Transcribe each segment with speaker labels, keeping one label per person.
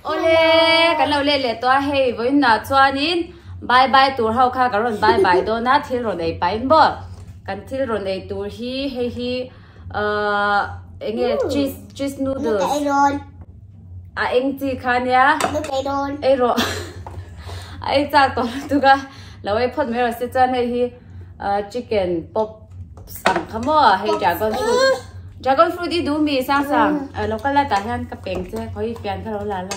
Speaker 1: Awle kan lo let leh tawh a hei vawiinna chuanin bye bye tur ho kha kan rawn bye bye dawn a thil rawn ei pahin bawk kan thil rawn ei tur hi hei hi. eng nge cheese cheese noodles ei ron a eng chi khan ya ei ron ei ro ai cha to tu ga lo ei phot mai ro se chan hei hi chicken pop sam khamo hei dragon fruit dragon fruit i du mi sang sang local la ta hian ka peng che khoi pian ka lo la la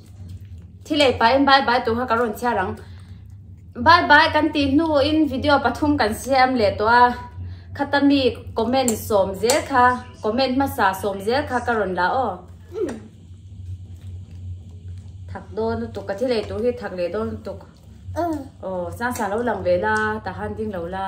Speaker 1: Thilei pain bye bye tawh kha ka rawn chhiar ang. Bye bye kan tih hnu in video pathum kan siam leh tawh a. Khata mi comment sawm zel kha, comment hmasa sawm zel kha ka rawn la aw. Thak dawn lutuk, ka thilei tur hi thak leh dawn lutuk. Oh, sang sang lo lang ve la, ta han ding lo la.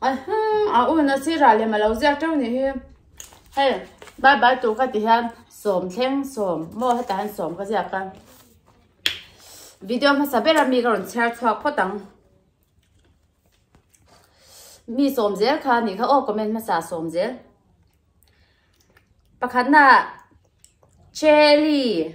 Speaker 1: Ahum, a un a sirah lem alo ziak teuh nih hi. Hei, bye bye tur ka ti hian sawm thleng sawm. Maw hetah hian sawm ka ziak a. Video hmasa bera mi ka rawn chhiar chhuak phawt ang. Mi sawm zel kha ni kha aw comment hmasa sawm zel. Pakhatna Chelly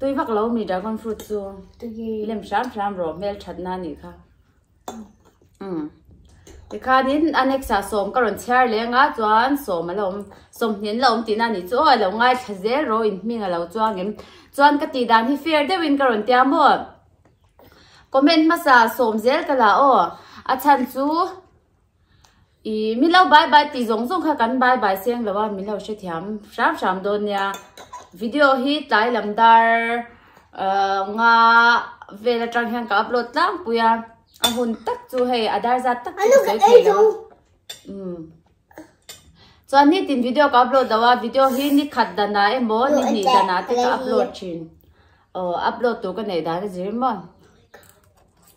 Speaker 1: tui vak lo mi dragon fruit chu lem hram hram rawh hmel that na ni kha um ti khan in a next a sawm ka rawn chhiar leng a chuan sawm a lo awm sawm hnen la awm ti na ni chu aw a lo ngai thla zel ro in hming a lo chuang em chuan ka tih dan hi fair deuh in ka rawn tia maw comment hmasa sawm zel ka la aw a chhan chu Ih min lo bye bye tih zawng zawng kha kan bye bye seng lo a min lo hrethiam hram hram dawn nia video hi tlai lam dar ah nga vel atang hian ka upload tlangpui a a hun tak chu hei a dar zat tak chu ka sawi thei lo a umm chuan nitin video ka upload lo a video hi ni khat danah emaw ni hnih danah te ka upload thin aw upload tur ka neih dan a zir maw.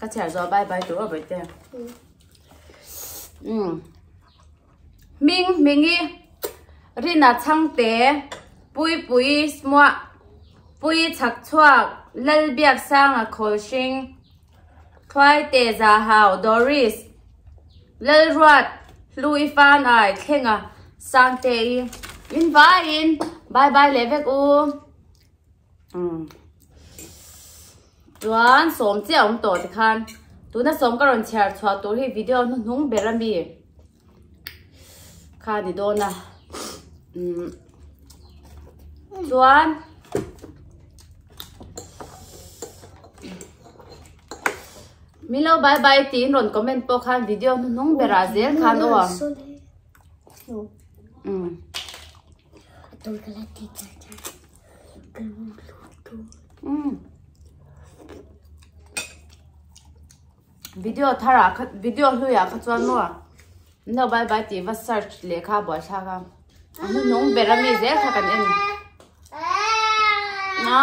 Speaker 1: ka chhiar zo bye bye tur awbei te um ming mingi rina changte pui pui smua pui chak chuak lal biak sanga khawl hring thuai te za hau doris lal ruat hlu i fan ai thlenga sangte i in vai in bye bye le vek u Chuan sawm chiah awm tawh te khan tuna sawm ka rawn chhiar chhuah tur hi video hnu hnung ber ami kha ni dawn a chuan Milo bye bye tiin rawn comment pawh khan video hnu hnung bera zel khan awa video thar ah kha video hlui ah kha chuan maw ah no bye bye tih va search lehkha a buai thlak a a hnu hnawng ber ami zel kha kan en a.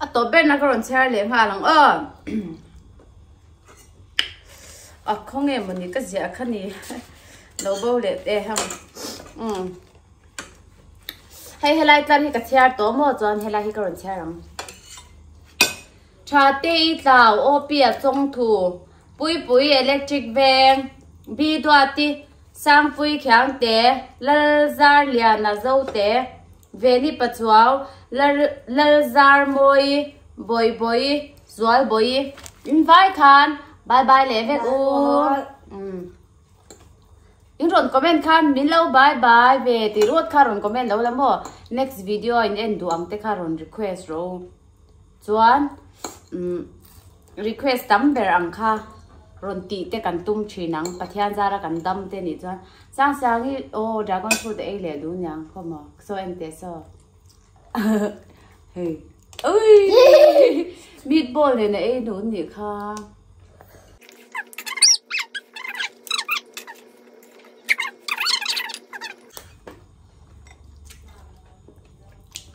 Speaker 1: A tawp ber na ka rawn chher leh nghal ang aw. A khawng em mawni ka zia kha ni. Lo bo leh te ham. Um. Hei helai tlan hi ka chher to mo chuan helai hi ka rawn chher ang. Tha te i tlau OP a chong thu. Pui pui electric veng. Bi duati sang pui khiang te. Lal zar liana zo te. Veni Pachuau, Lar Lalzar Mawi, Bawi Bawi, Zual Bawi. In vai khan bye bye leh vek u. Um. In rawn comment khan min lo bye bye ve tih ruat kha rawn comment lo la maw? Next video a in en duh ang te kha rawn request ro. Chuan request tam ber ang kha rawn tih te kan tum thin ang, Pathian zara kan dam te nih chuan Sang Siangi aw dragon fruit a ei leh duh niang khawm aw, saw em teh saw hei ui meatball nen a ei duh nih kha.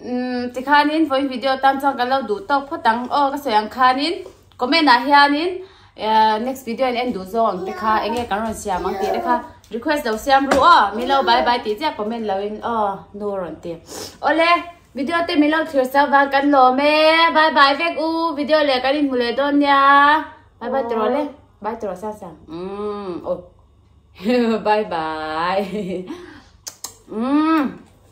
Speaker 1: Umm tikhanin vawiin video tan chuan kan lo duh tawk phawt ang aw ka sawi ang khanin comment ah hianin ehh next video in en duh zawng ang te kha eng nge kan rawn siam ang tih te kha request lo siam ru aw min lo bye bye tih chiah comment lo in aw nu a rawn ti awle video te min lo thlir chau vang kan lawm e bye bye vek u video leh kan inhmu leh dawn nia bye bye tawrh awle bye tawrh sang sang umm aw bye bye umm